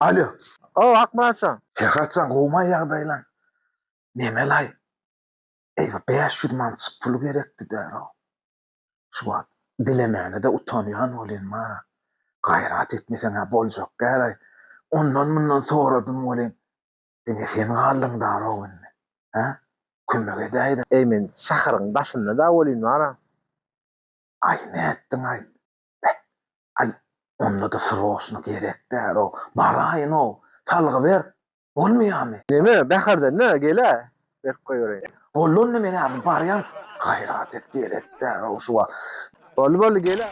Alýo. Hawa, Akmyratjan. Her haçan gowmaý ýagdaýlaň. Memelaý. Eý, bir bäş ýüz mançyk pul gerekdi-dä-row. Şu wagt dilemäne-de utanýan welin, mara, gaýrat etmeseň-ä boljak däl-aý. Ondan-mundan soradym welin, diňe sen galdyň-da-row indi. Hä? Kömek edäý-de. Eý, men şaharyň daşynda-da welin, mara. Aý, nätdiň-aý? Beh, aý, onda-da sroçno gerek däl-ow, baraýyn-ow, salgy ber, bolmaýamy? Neme, Bäherden nä, gel-ä, berip goýbereýin. Boldy, onda men häzir barýan. Gaýrat et, gerek däl-ow şu wagt. Boldy, boldy, gel-ä.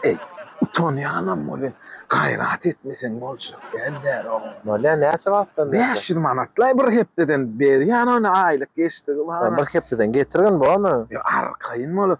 Eý, utanýanam welin, gaýrat etmeseň boljak däl däl-ow. Bolýa, näçe wagtdan bäri? Bäş ýüz manat-laý bir hepdeden berýän ony, aýlyk geçdigi bar-a. Bir hepdeden getirgin, bormy? Ýa, arkaýyn bolup,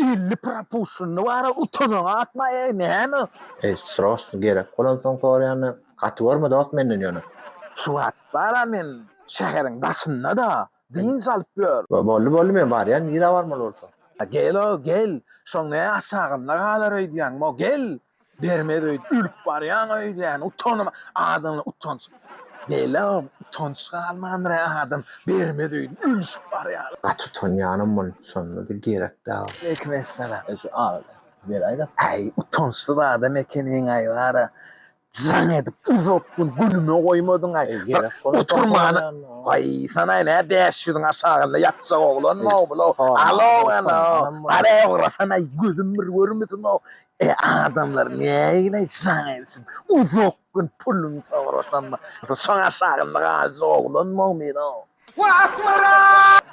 Elli propushinni bara utanaňa atma eý näme. Eý srosny gerek bolansoň soraýanda gaty görme dost menden ýöne. Şu wagt bara men şäheriň daşyndada dynç alyp ýör. Boldy boldy men barýan nirä barmaly bolsa. Gelo gel şoň ne aşagynda galar öýdýäňmo gel Bermez öýt ölüp barýaň öýdýän utanma adamlar utanç dälä utanç galmandyr a adam bermez öýt ölüşip barýar. Gaty utanýanam mun şondada gerek dal. Waleýkim essalam. Eý şu agyz beräý da. Äý utançsyz adam ekeniňaý bara jaň edip uzak gün günüme goýmadyňaý bir oturmana waý sanaý nä bäş ýüzüň aşagynda ýatjak oglanmyw bulaw alow alow garaý ugrasanaý gözüm bir görmesin o E adamlar nägile şaňy edişim. Uzak gün pulun sorasam. Şoňa şagynlyk ajy oglan mogmin o. Wah akmyrat.